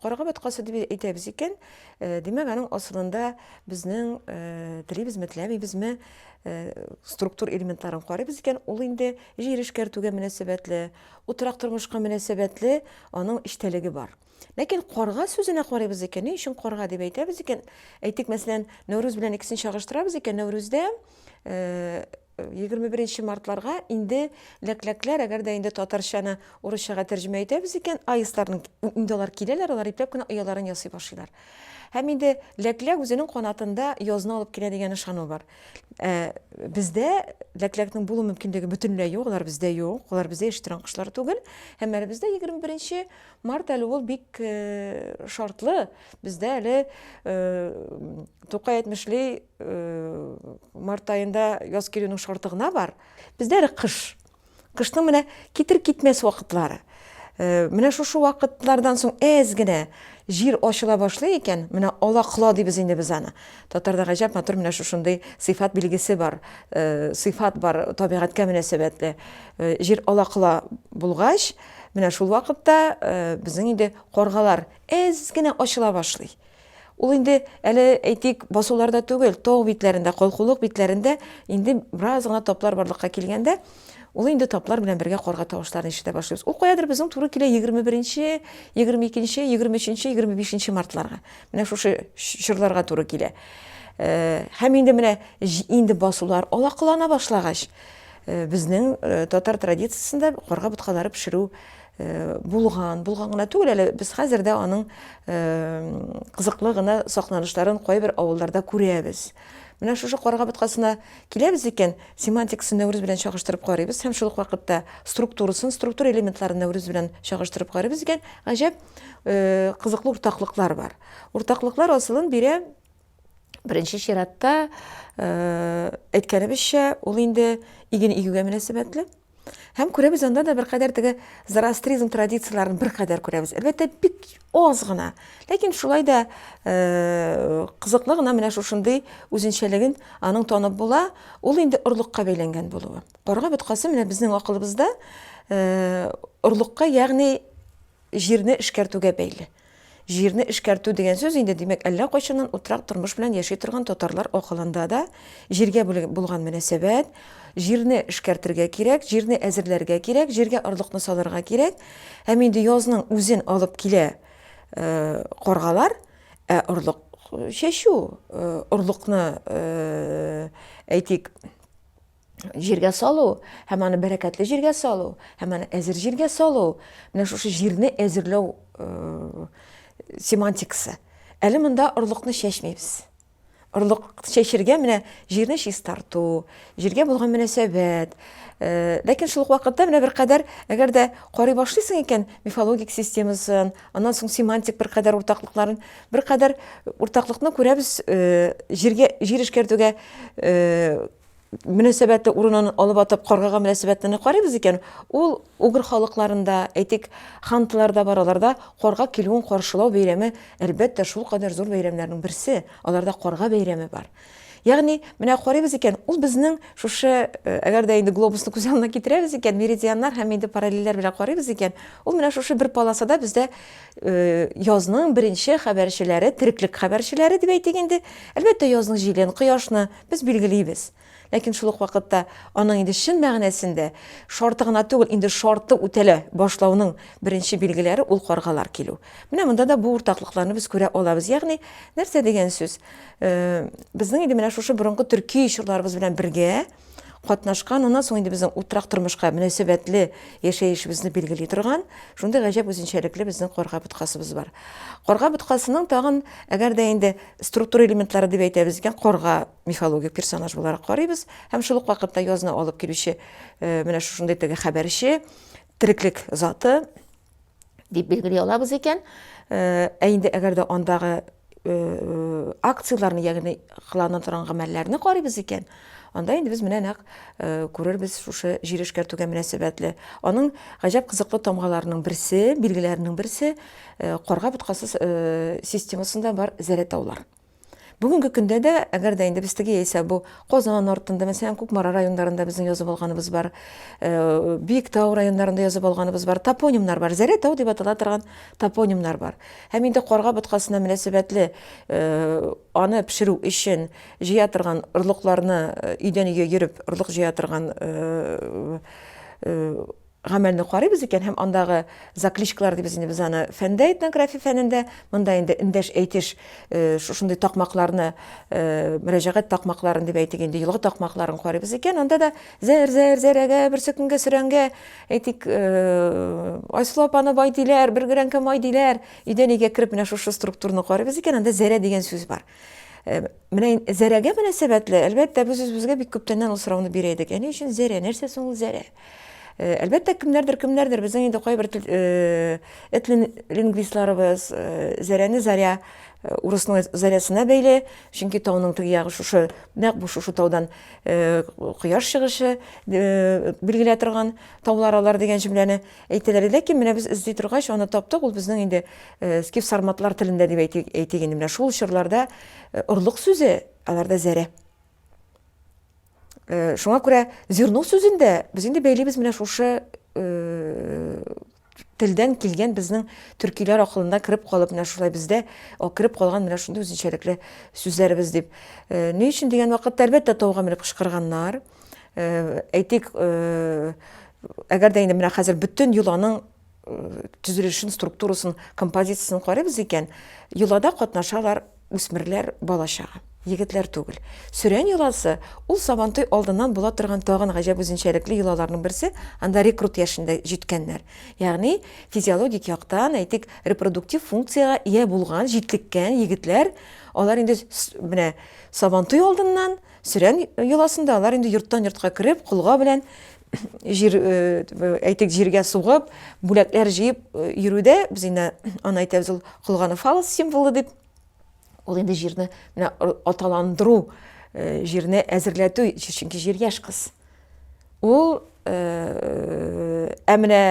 Карга баткасы дип әйтәбез икән, э, димәк, аның асылында безнең э, телибез, мәтләбибезме э, структур элементларын карыйбыз икән, ул инде җир эшкәртүгә мөнәсәбәтле, утрак тормышка мөнәсәбәтле аның эчтәлеге бар. Ләкин карга сүзенә карыйбыз икән, ни өчен карга дип әйтәбез икән? Әйтик, мәсәлән, Нәүрүз белән икесен чагыштырабыз икән, Нәүрүздә 21 э, мартларга инде ләкләкләр, әгәр дә инде татарчаны урысчага тәрҗемә итәбез икән, аистларның инде алар киләләр, алар ипләп кенә ояларын ясый башлыйлар. Һәм инде ләкләк үзенең канатында язны алып килә дигән ышану бар. Э, бездә ләкләкнең булу мөмкинлеге бөтенләй юк, алар бездә юк, алар бездә яши торган кошлар түгел. Һәм әле бездә 21 Март әле ул бик шартлы. Бездә әле Тукай әйтмешли март айында яз килүнең шарты гына бар. Бездә әле кыш. Кышның менә китер китмәс вакытлары. Менә шушы вакытлардан соң әз генә җир ачыла башлый икән, менә ала кыла дибез инде без аны. Татарда гаҗәп матур менә шушындый сыйфат билгесе бар, сыйфат бар табигатькә мөнәсәбәтле. Җир ала кыла булгач, Менә шул вакытта безнең инде каргалар әз генә ачыла башлый. Ул инде әле әйтик басуларда түгел, тау битләрендә, калкулык битләрендә инде бераз гына таплар барлыкка килгәндә, ул инде таплар белән бергә карга тавышларын ишетә башлыйбыз. Ул каядыр безнең туры килә 21-нче, 22-нче, 23-нче, 25-нче мартларга. Менә шушы чорларга туры килә. Һәм инде менә инде басулар алакалана башлагач, Безнең татар традициясендә карга боткалары пешерү булган, булган гына түгел әле, без хәзер дә аның кызыклы гына сакланышларын кайбер авылларда күрәбез. Менә шушы карга боткасына киләбез икән, семантикасын Нәүрүз белән чагыштырып карыйбыз һәм шул ук вакытта структурасын, структура элементларын Нәүрүз белән чагыштырып карыйбыз икән, гаҗәп кызыклы уртаклыклар бар. Уртаклыклар асылын бирә Беренче чиратта, әйткәнебезчә, ул инде иген игүгә мөнәсәбәтле. Һәм күрәбез анда да беркадәр теге зороастризм традицияләрен беркадәр күрәбез. Әлбәттә, бик аз гына. Ләкин шулай да э, кызыклы гына менә шушындый үзенчәлеген аның танып була. Ул инде орлыкка бәйләнгән булуы. Карга боткасы менә безнең акылыбызда э, орлыкка, ягъни Җирне эшкәртүгә бәйле. Җирне эшкәртү дигән сүз инде, димәк, әллә кайчаннан утрак тормыш белән яши торган татарлар акылында да җиргә булган мөнәсәбәт, җирне эшкәртергә кирәк, җирне әзерләргә кирәк, җиргә орлыкны салырга кирәк. Һәм инде язның үзен алып килә каргалар, ә орлык чәчү, орлыкны, әйтик, җиргә салу һәм аны бәрәкәтле җиргә салу һәм аны әзер җиргә салу менә шушы җирне әзерләү э, семантикасы әле монда орлыкны чәчмибез орлык чәчергә менә җирне чистарту җиргә булган мөнәсәбәт э, ләкин шул ук вакытта менә беркадәр әгәр дә карый башлыйсың икән мифологик системасын аннан соң семантик беркадәр уртаклыкларын беркадәр уртаклыкны күрәбез э, җиргә җир эшкәртүгә э, мөнәсәбәте урынын алып атып каргага мөнәсәбәтне карыйбыз икән, ул угр халыкларында, әйтик, хантларда бар, аларда карга килүен каршылау бәйрәме, әлбәттә, шулкадәр зур бәйрәмнәрнең берсе, аларда карга бәйрәме бар. Ягъни, менә карыйбыз икән, ул безнең шушы, э, әгәр дә инде глобусны күз алдына китерәбез икән, меридианнар һәм инде параллельләр белән карыйбыз икән, ул менә шушы бер полосада бездә э, язның беренче хәбәрчеләре, тереклек хәбәрчеләре дип әйтик инде, әлбәттә, язның җилен, кояшны, Без билгелибез. Ләкин шул ук вакытта аның инде чын мәгънәсендә шарты гына түгел, инде шарты үтәлә башлауның беренче билгеләре ул каргалар килү. Менә монда да бу уртаклыкларны без күрә алабыз. Ягъни, нәрсә дигән сүз? Э, безнең инде менә шушы борынгы төрки чорларыбыз белән бергә катнашкан, аннан соң инде безнең утрак тормышка мөнәсәбәтле яшәешебезне билгели торган, шундый гаҗәп үзенчәлекле безнең карга боткасыбыз бар. Карга боткасының тагын, әгәр дә инде структура элементлары дип әйтәбез икән, карга мифологик персонаж буларак карыйбыз һәм шул ук вакытта язны алып килүче э, менә шушындый теге хәбәрче, тереклек заты дип билгели алабыз икән. Э, ә инде әгәр дә андагы э, акцияләрне, ягъни кылана торган гамәлләрне карыйбыз икән, Анда инде без менә нәкъ э, күрербез шушы җир эшкәртүгә мөнәсәбәтле. Аның гаҗәп кызыклы тамгаларының берсе, билгеләренең берсе э, карга боткасы э, системасында бар зәләтаулар. Бүгенге көндә дә, әгәр дә инде без теге яисә бу Казан артында, мәсәлән, Кукмара районнарында безнең язып алганыбыз бар, Биектау районнарында язып алганыбыз бар, топонимнар бар, Зәләтау дип атала торган топонимнар бар. Һәм инде карга боткасына мөнәсәбәтле аны пешерү өчен Җыя торган орлыкларны өйдән өйгә йөреп орлык җыя торган гамәлне карыйбыз икән һәм андагы закличкалар дибез инде без аны фәндә этнография фәнендә монда инде эндәш әйтеш шушындый такмакларны мөрәҗәгать такмакларын дип әйтик инде елгы такмакларын карыйбыз икән анда да зәр зәр зәрәгә берсөкенгә сөрәнгә әйтик айсылу апаны бай диләр бер грәнкә май диләр өйдән өйгә кереп менә шушы структураны карыйбыз икән анда зәрә дигән сүз бар Менә Зәрәгә мөнәсәбәтле, әлбәттә, без үзебезгә бик күптәннән ул сорауны бирә идек. Әни өчен Зәрә, нәрсә соң ул Зәрә? Э, әлбәттә кемнәрдер кемнәрдер безнең инде кайбер э, этлин лингвистларыбыз э, зәрәне заря урысның зарясына бәйле чөнки тауның теге ягы шушы нәкъ бу шушы таудан кояш чыгышы билгеләп торган таулар алар дигән җөмләне Әйтәләр иде, ләкин менә без эзли торгач, аны таптык, ул безнең инде скиф-сарматлар телендә дип әйтик, әйтик инде, менә шул чорларда орлык сүзе, аларда зәрә. Шуңа күрә зерно сүзен дә без инде бәйлибез менә шушы телдән килгән безнең төркиләр акылында кереп калып менә шулай бездә кереп калган менә шундый үзенчәлекле сүзләребез дип. Ни өчен дигән вакытта, әлбәттә, тауга менеп кычкырганнар. әйтик, әгәр дә инде менә хәзер бөтен йоланың төзелешен, структурасын, композициясен карыйбыз икән, йолада катнашалар үсмерләр бала чага, егетләр түгел. Сөрән йоласы ул Сабантуй алдыннан була торган тагын гаҗәп үзенчәлекле йолаларның берсе, анда рекрут яшендә җиткәннәр. Ягъни физиологик яктан, әйтик, репродуктив функциягә ия булган, җитлеккән егетләр, алар инде менә Сабантуй алдыннан Сөрән йоласында алар инде йорттан-йортка кереп, колга белән җир әйтик җиргә сугып, бүләкләр җыеп йөрүдә без инде аны әйтәбез ул колганы фалос символы дип. Ул инде җирне менә аталандыру, җирне әзерләтү, чөнки җир яшь кыз. Ул ә менә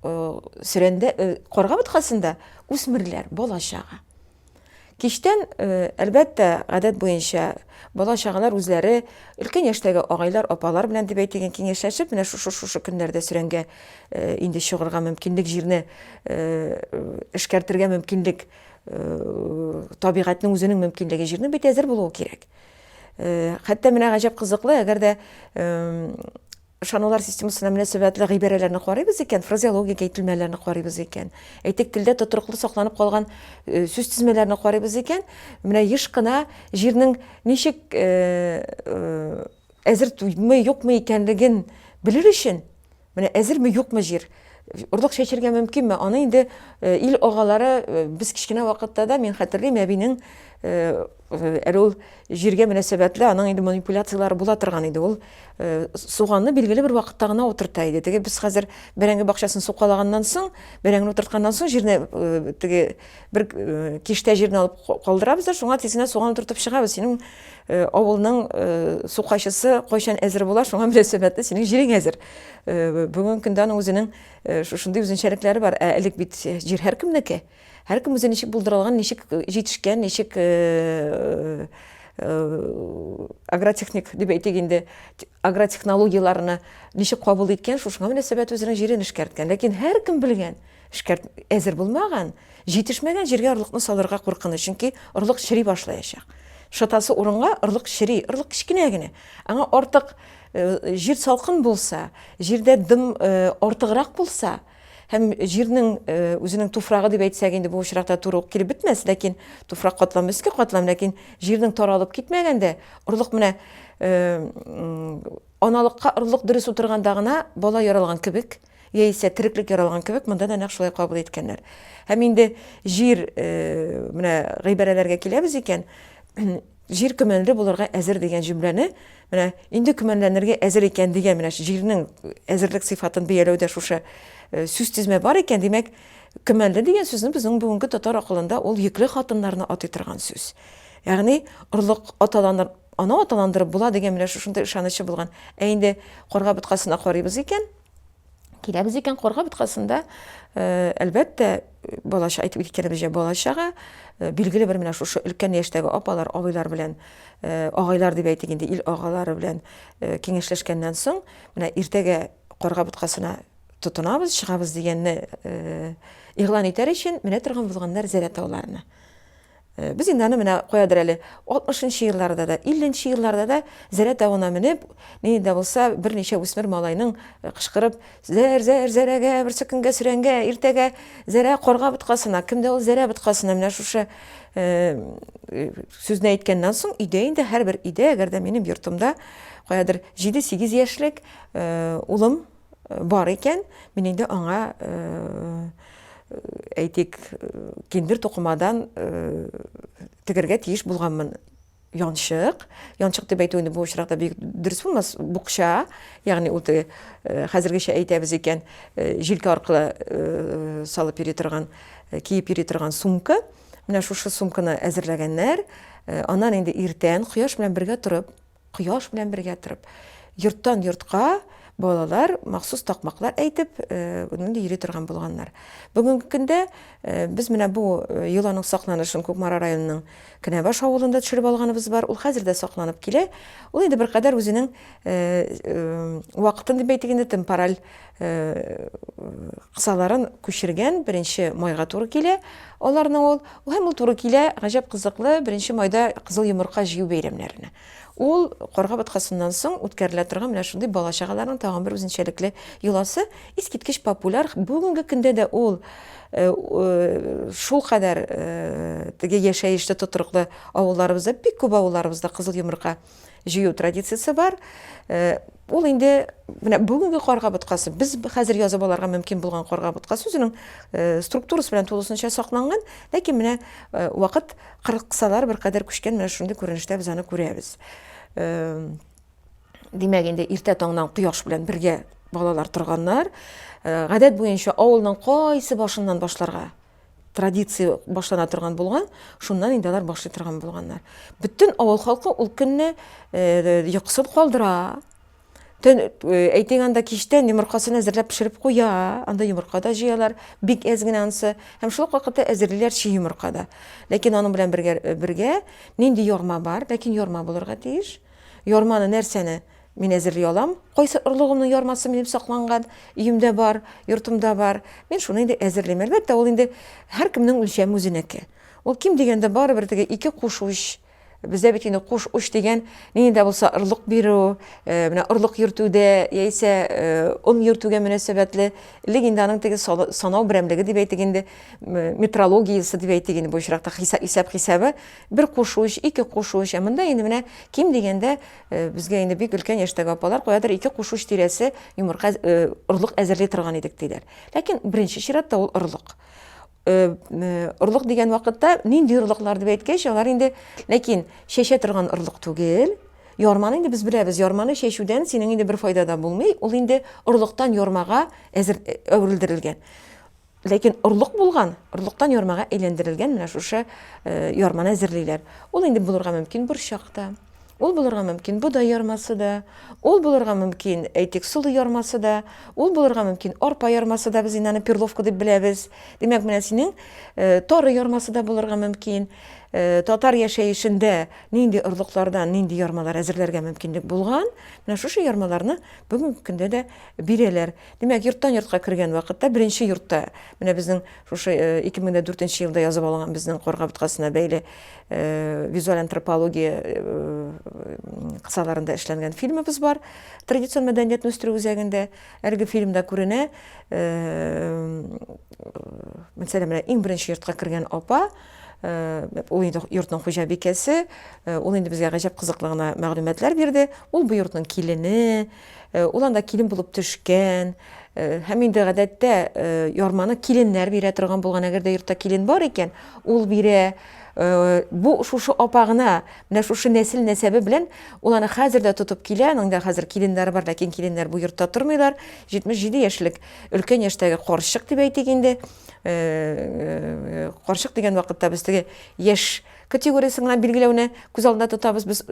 сөрәндә карга боткасында үсмерләр, бала чага. Кичтән, э, әлбәттә, гадәт буенча, бала-чагалар үзләре, өлкән яшьтәге агайлар, апалар белән дип әйтегез, киңәшләшеп, менә шушы-шушы көннәрдә сөрәнгә э, инде чыгарга мөмкинлек, җирне э, эшкәртергә мөмкинлек, э, табигатьнең үзенең мөмкинлеге, җирнең бит әзер булуы кирәк. Хәтта менә гаҗәп кызыклы, әгәр дә Ышанулар системасына мөнәсәбәтле гыйбарәләрне карыйбыз икән, фразеологик әйтелмәләрне карыйбыз икән, әйтик, телдә тотрыклы сакланып калган сүз тезмәләрне карыйбыз икән, менә еш кына җирнең ничек әзерме, юкмы икәнлеген белер өчен, менә әзерме, юкмы җир, орлык чәчергә мөмкинме, аны инде ил агалары без кечкенә вакытта да, мин хәтерлим, әбинең Э, әле ул җиргә мөнәсәбәтле аның инде манипуляцияләре була торган иде ул э, суганны билгеле бер вакытта гына утырта иде теге без хәзер бәрәңге бакчасын сукалаганнан соң бәрәңгене утыртканнан соң җирне э, теге бер киштә җирне алып калдырабыз да шуңа тезенә суган утыртып чыгабыз синең авылның сукайчысы кайчан әзер була шуңа мөнәсәбәтле синең җирең әзер бүгенге көндә аның үзенең шушындый үзенчәлекләре бар ә элек бит җир һәркемнеке Һәркем үзе ничек булдырылган, ничек җитешкән, ничек агротехник дип әйтик инде, агротехнологияләрне ничек кабул иткән, шушыңа мөнәсәбәт үзенең җирен эшкәрткән. Ләкин һәркем белгән, эшкәрт әзер булмаган, җитешмәгән җиргә орлыкны салырга куркыныч, чөнки орлык чери башлаячак. Шытасы урынга орлык чери, орлык кечкенә генә. Аңа артык җир салкын булса, җирдә дым артыграк булса, Һәм җирнең үзенең туфрагы дип әйтсәк инде бу очракта туры ук килеп бетмәс, ләкин туфрак катламы өске катлам, ләкин җирнең таралып китмәгәндә орлык менә аналыкка орлык дөрес утырганда гына бала яралган кебек, яисә тереклек яралган кебек, монда да нәкъ шулай кабул иткәннәр. Һәм инде җир менә гыйбарәләргә киләбез икән, Җир көмәнле булырга әзер дигән җөмләне менә инде көмәнләнергә әзер икән дигән менә җирнең әзерлек сыйфатын бәяләүдә шушы сүзтезмә бар икән, димәк, көмәнле дигән сүзне безнең бүгенге татар акылында ул йөкле хатыннарны атый торган сүз. Ягъни орлык аталаныр, аны аталандырып була дигән менә шушындый ышанычы булган. Ә инде карга боткасына карыйбыз икән, киләбез икән корга боткасында э, әлбәттә балача әйтеп киткәнебезчә балачага э, билгеле бер менә шушы өлкән яшьтәге апалар абыйлар белән э, агайлар дип әйтик инде ил агалары белән киңәшләшкәннән соң менә иртәгә корга боткасына тотынабыз чыгабыз дигәнне игълан итәр өчен менә торган булганнар зәлә тауларына Без инде аны менә каядыр әле 60 нчы елларда да, 50 нче елларда да Зәрә тавына менеп, нинди дә булса берничә үсмер малайның э, кычкырып, Зәр, зәр, зәрәгә, берсе көнгә сөрәнгә, иртәгә зәрә карга боткасына, кемдә ул зәрә боткасына, менә шушы э, э, сүзне әйткәннән соң өйдә инде һәрбер өйдә, әгәр дә минем йортымда каядыр 7-8 яшьлек э, улым бар икән, мин инде аңа, әйтик, киндер тукымадан тегергә тиеш булганмын. Янчык, янчык дип әйтү инде бу очракта бик дөрес булмас, букча, ягъни ул теге хәзергечә әйтәбез икән, җилкә аркылы салып йөри торган, киеп йөри торган сумка. Менә шушы сумканы әзерләгәннәр. Аннан инде иртән кояш белән бергә торып, Кояш белән бергә торып. Йорттан йортка балалар махсус такмаклар әйтеп, нинди йөри торган булганнар. Бүгенге көндә без менә бу йоланың сакланышын Кукмара районының Кенәбаш авылында төшереп алганыбыз бар. Ул хәзер дә сакланып килә. Ул инде беркадәр үзенең вакытын дип әйтик инде, темпораль кысаларын күчергән беренче майга туры килә аларның ул һәм ул туры килә гаҗәп кызыклы беренче майда кызыл йомырка җыю бәйрәмнәренә ул карга боткасыннан соң үткәрелә торган менә шундый бала чагаларның тагын бер үзенчәлекле йоласы искиткеч популяр бүгенге көндә дә ул шул кадәр теге яшәешле тотрыклы авылларыбызда бик күп авылларыбызда кызыл йомырка җыю традициясе бар. Э, ул инде менә бүгенге карга боткасы, без хәзер язып аларга мөмкин булган карга боткасы үзенең э, структурасы белән тулысынча сакланган, ләкин менә э, вакыт кырыксалар бер кадәр күчкән, менә шундый күренештә без аны күрәбез. Димәк, инде иртә таңнан кояш белән бергә балалар торганнар. Гадәт буенча авылның кайсы башыннан башларга? традиция башлана торган булган, шуннан инде алар башлый торган булганнар. Бөтен авыл халкы ул көнне э, йоксып калдыра. Төн э, әйтең анда кичтән йомыркасын әзерләп пешереп куя, анда йомырка да җыялар, бик әз генә ансы. Һәм шул вакытта әзерлиләр чи йомырка да. Ләкин аның белән бергә э, бергә нинди ярма бар, ләкин ярма булырга тиеш. Ярманы нәрсәне? Мин әзерли алам. Кайсы орлыгымның ярмасы минем сакланган, өемдә бар, йортымда бар. Мин шуны инде әзерлим. Әлбәттә, ул инде һәркемнең үлчәме үзенеке. Ул ким дигәндә барыбер теге ике куш уч, бездә бит инде куш уч дигән, нинди дә булса орлык бирү, э, менә орлык йөртүдә яисә э, он йөртүгә мөнәсәбәтле, элек инде аның теге санау берәмлеге дип әйтик инде, метрологиясе дип әйтик инде бу очракта хисап хисабы, бер куш уч, ике куш уч, ә монда инде менә ким дигәндә Безгә инде бик өлкән яшьтәге апалар каядыр ике куш уч тирәсе йомырка орлык әзерли торган идек диләр. Ләкин беренче чиратта ул орлык. Орлык дигән вакытта нинди орлыклар дип әйткәч, алар инде ләкин чәчә торган орлык түгел, Ярманы инде без беләбез, ярманы чәчүдән синең инде бер файда да булмый, ул инде орлыктан ярмага әзер әверелдерелгән. Ләкин орлык булган, орлыктан ярмага әйләндерелгән менә шушы э, ярманы әзерлиләр. Ул инде булырга мөмкин борчак та, ул булырга мөмкин бодай ярмасы да, ул булырга мөмкин әйтик солы ярмасы да, ул булырга мөмкин арпа ярмасы да, без инде аны перловка дип беләбез. Димәк, менә синең э, тары ярмасы да булырга мөмкин. Э, татар яшәешендә нинди орлыклардан нинди ярмалар әзерләргә мөмкинлек булган, менә шушы ярмаларны бүгенге көндә дә бирәләр. Димәк, йорттан-йортка кергән вакытта, беренче йортта, менә безнең шушы 2004 нче елда язып алынган безнең Карга боткасына бәйле визуаль антропология кысаларында эшләнгән фильмыбыз бар. Традицион мәдәниятне үстерү үзәгендә әлеге фильмда күренә, мәсәлән, менә иң беренче йортка кергән апа, ул инде йортның хуҗабикәсе, ул инде безгә гаҗәп кызыклы гына мәгълүматлар бирде. Ул бу йортның килене, Ул анда килен булып төшкән, һәм инде гадәттә ярманы киленнәр бирә торган булган, әгәр дә йортта килен бар икән, ул бирә. Бу шушы апа гына, менә шушы нәсел-нәсәбе белән ул аны хәзер дә тотып килә, аның да хәзер киленнәре бар, ләкин киленнәр бу йортта тормыйлар, 77 яшьлек өлкән яшьтәге карчык дип әйтик инде, карчык дигән вакытта без теге яшь Категориясен генә билгеләүне күз алдында тотабыз, без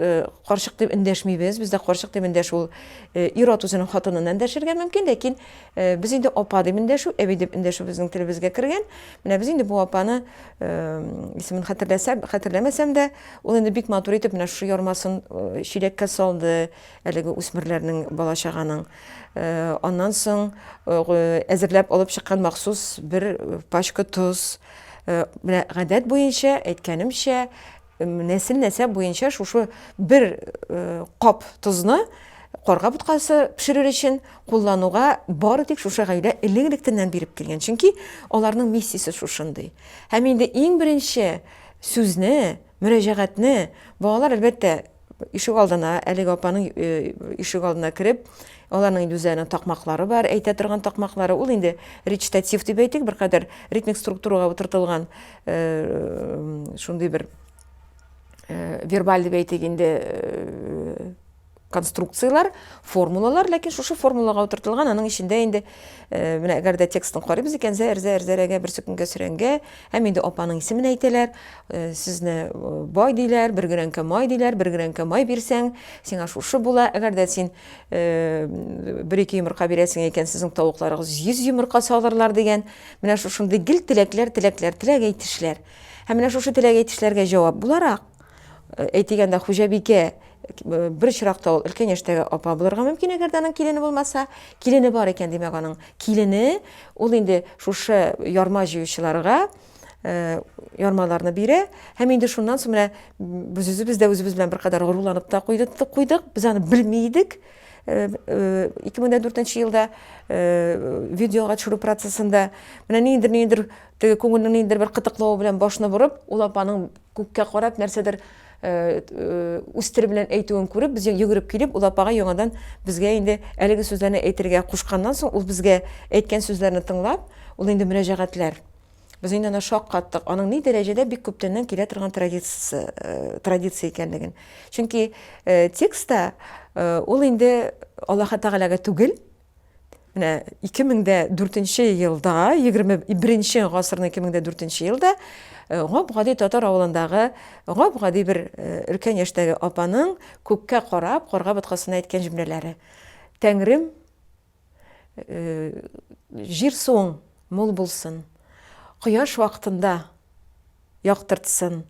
карчык дип эндәшмибез, бездә карчык дип эндәш ул ир-ат үзенең хатынына эндәшергә мөмкин, ләкин без инде апа дип эндәшү, әби дип эндәшү безнең телебезгә кергән. Менә без инде бу апаны исемен хәтерләсәм, хәтерләмәсәм дә, ул инде бик матур итеп менә шушы ярмасын чиләккә салды, әлеге үсмерләрнең, бала-чаганың. Аннан соң әзерләп алып чыккан махсус бер пачка тоз, Менә гадәт буенча, әйткәнемчә, нәсел-нәсәп буенча шушы бер кап тозны карга боткасы пешерер өчен куллануга бары тик шушы гаилә элек-электәннән биреп килгән. Чөнки аларның миссиясе шушындый. Һәм инде иң беренче сүзне, мөрәҗәгатьне балалар, әлбәттә, Ишек алдына, әлеге апаның э, ишек алдына кереп, аларның үзләренең такмаклары бар, әйтә торган такмаклары. Ул инде речитатив дип әйтик, бер кадәр ритмик структурага утыртылган э, шундый бер э, вербаль дип әйтик инде конструкцияләр, формулалар, ләкин шушы формулага утыртылган, аның эчендә инде Э, менә әгәр дә текстын карыйбыз икән зәр зәр зәрәгә бер сөкенгә сөрәнгә һәм инде апаның исемен әйтәләр э, сезне э, бай диләр бер грәнкә май диләр бер грәнкә май бирсәң сиңа шушы була әгәр дә син бер ике йомырка бирәсең икән сезнең тавыкларыгыз йөз йомырка салырлар дигән менә шушындый гел теләкләр теләкләр теләк әйтешләр һәм менә шушы теләк әйтешләргә җавап буларак Әйтегәндә, хуҗабикә бер чиракта ул өлкән яшьтәге апа булырга мөмкин, әгәр дә аның килене булмаса, килене бар икән, димәк, аның килене ул инде шушы ярма җыючыларга ярмаларны бирә һәм инде шуннан соң менә без үзебез дә үзебез белән беркадәр горурланып та куйдык, куйдык. Без аны белми идек. 2004 елда видеога төшерү процессында менә ниндидер ниндидер теге күңелнең ниндидер бер кытыклавы белән башны борып, ул апаның Күккә карап нәрсәдер үз теле белән әйтүен күреп, без йөгереп килеп, ул апага яңадан безгә инде әлеге сүзләрне әйтергә кушканнан соң, ул безгә әйткән сүзләрне тыңлап, ул инде мөрәҗәгатьләр. Без инде аны шаккаттык. Аның ни дәрәҗәдә бик күптәннән килә торган традиция, э, традиция икәнлеген. Чөнки э, текстта э, ул инде Аллаһ Тәгаләгә түгел, Менә 2004 елда, 21 гасырның 2004 елда э, гап-гади татар авылындагы гап-гади бер э, өлкән яшьтәге апаның күккә карап, карга боткасына әйткән җөмләләре. Тәңрем э, җир суың мул булсын. Кояш вакытында Яктыртсын.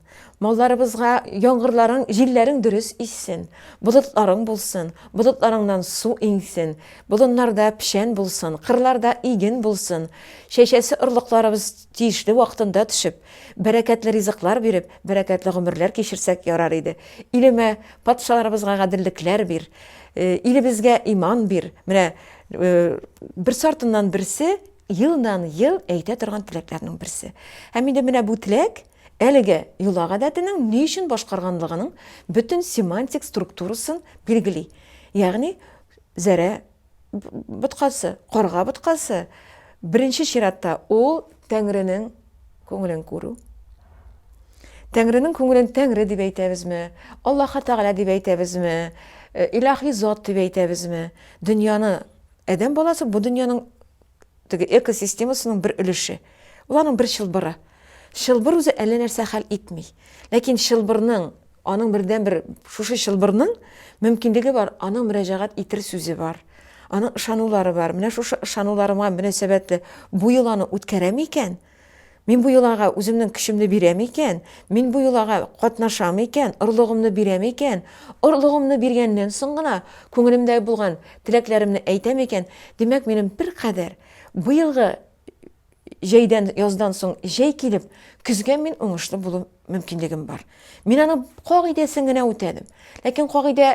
Малларыбызга яңгырларың, җилләрең дөрес иссен. Болытларың булсын. Болытларыңнан су иңсен. Болыннарда печән булсын, кырларда иген булсын. Чәчәсе орлыкларыбыз тиешле вакытында төшеп, бәрәкәтле ризыклар биреп, бәрәкәтле гомерләр кичерсәк ярар иде. Илемә, патшаларыбызга гаделлекләр бир. Илебезгә иман бир. Менә берсе артыннан берсе елдан-ел әйтә торган теләкләрнең берсе. Һәм инде менә бу теләк әлеге йола гадәтенең ни өчен башкарганлыгының бөтен семантик структурасын билгели. Ягъни, зәрә боткасы, карга боткасы, беренче чиратта ул Тәңренең күңелен күрү. Тәңренең күңелен Тәңре дип әйтәбезме, Аллаһы Тәгалә дип әйтәбезме, э, илаһи зат дип әйтәбезме, дөньяны Адәм баласы бу дөньяның теге экосистемасының бер өлеше. Ул аның бер чылбыры. Чылбыр үзе әллә нәрсә хәл итми. Ләкин чылбырның, аның бердәнбер шушы чылбырның мөмкинлеге бар, аның мөрәҗәгать итер сүзе бар. Аның ышанулары бар. Менә шушы ышануларыма мөнәсәбәтле бу йоланы үткәрәме икән? Мин бу йолага үземнең көчемне бирәм икән, мин бу йолага катнашам икән, орлыгымны бирәм икән, орлыгымны биргәннән соң гына күңелемдә булган теләкләремне әйтәм икән, димәк, минем беркадәр быелгы җәйдән, яздан соң җәй килеп, көзгә мин уңышлы булу мөмкинлегем бар. Мин аның кагыйдәсен генә үтәдем. Ләкин кагыйдә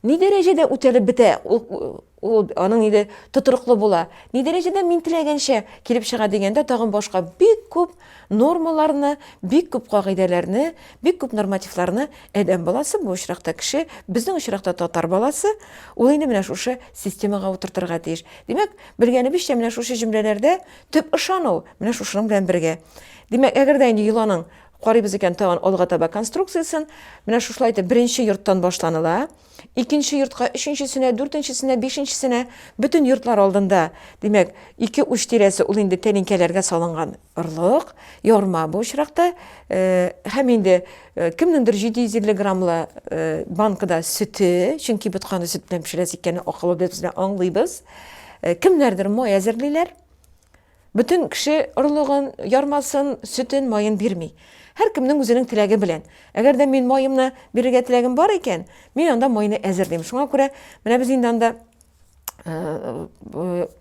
ни дәрәҗәдә үтәлеп бетә, ул аның инде тотрыклы була. Ни дәрәҗәдә мин теләгәнчә килеп чыга дигәндә, тагын башка бик күп нормаларны, бик күп кагыйдәләрне, бик күп нормативларны адәм баласы, бу очракта кеше, безнең очракта татар баласы, ул инде менә шушы системага утыртырга тиеш. Димәк, белгәнебезчә, менә шушы җөмләләрдә Төп ышану, менә шушының белән бергә. Димәк, әгәр дә инде йоланың карыйбыз икән тагын алга таба конструкциясен, менә шушылай итеп беренче йорттан башланыла, икенче йортка, өченчесенә, дүртенчесенә, бишенчесенә, бөтен йортлар алдында, димәк, ике уч тирәсе ул инде тәлинкәләргә салынган орлык, ярма бу очракта, һәм инде Э, кемнеңдер 750 граммлы э, банкада сөте, чөнки ботканы сөт белән пешерәсе икәнен акыллы без аңлыйбыз. Э, кемнәрдер май әзерлиләр. Бөтен кеше орлыгын, ярмасын, сөтен, майын бирми. Һәр кемнең үзенең теләге белән. Әгәр дә мин майымны бирергә теләгем бар икән, мин анда майны әзерлим. Шуңа күрә менә без инде анда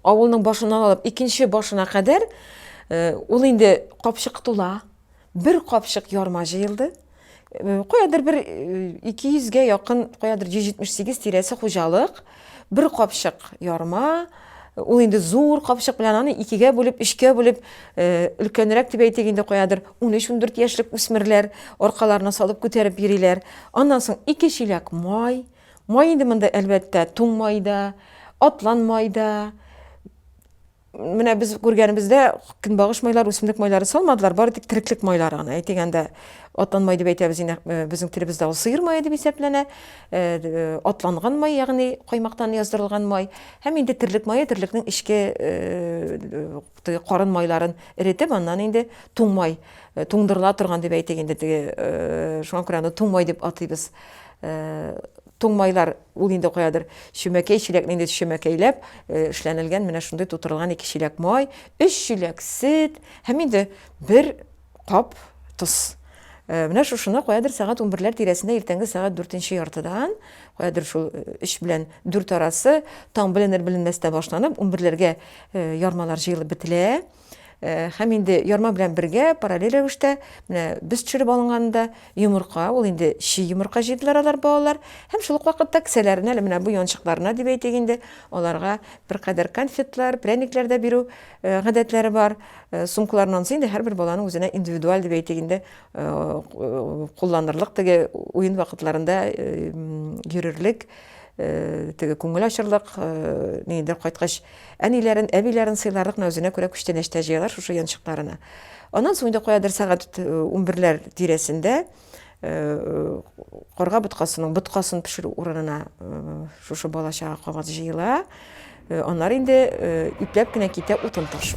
авылның башыннан алып икенче башына кадәр ул инде капчык тула. бер капчык ярма җыелды. Куядыр бер 200 гә якын, куядыр 178 тирәсе хуҗалык, бер капчык ярма, ул инде зур капчык белән аны икегә бүлеп, өчкә бүлеп, өлкәнрәк дип әйтик инде, куядыр 13-14 яшьлек үсмерләр аркаларына салып күтәреп йөриләр. Аннан соң ике чиләк май, май инде монда әлбәттә туң май да, атлан май да, Менә без күргәнебездә көнбагыш майлар, үсемлек майлары салмадылар, бары тик тереклек майлары гына. Әйтик әндә атлан май дип әйтәбез инде, э, безнең телебездә ул сыер мае дип исәпләнә. Э, э, атланган май, ягъни каймактан яздырылган май. Һәм инде терлек мае, терлекнең ичке э, карын майларын эретеп, аннан инде туң май, туңдырыла торган дип әйтик инде, шуңа күрә аны туң май дип атыйбыз. Туңмайлар, ул инде каядыр чөмәкәй чиләкне инде чөмәкәйләп эшләнелгән менә шундый тутырылган ике чиләк май, өч чиләк сөт һәм инде бер кап тоз. Э, менә шушыны каядыр сәгать унберләр тирәсендә иртәнге сәгать дүртенче яртыдан каядыр шул э, өч белән дүрт арасы таң беленер-беленмәстә башланып унберләргә э, ярмалар җыелып бетелә Һәм инде ярма белән бергә параллель рәвештә менә без төшереп алынганда йомырка, ул инде чи йомырка җыйдылар алар балалар. Һәм шул ук вакытта кесәләренә, әле менә бу янчыкларына дип әйтик инде, аларга беркадәр конфетлар, пряниклар да бирү гадәтләре бар. Сумкаларыннан инде һәрбер баланың үзенә индивидуаль дип әйтик инде кулланырлык теге уен вакытларында йөрерлек, теге күңел ачырлык, нидер кайткач Әниләрен, әбиләрен сыйларлык мәүзенә күрә күчтәнәчтә җыялар шушы янчыкларына. Аннан соң инде каядыр сәгать унберләр тирәсендә карга боткасының боткасын пешерү урынына шушы бала-чага кабат җыела. Аннары инде ипләп кенә китә утын ташу.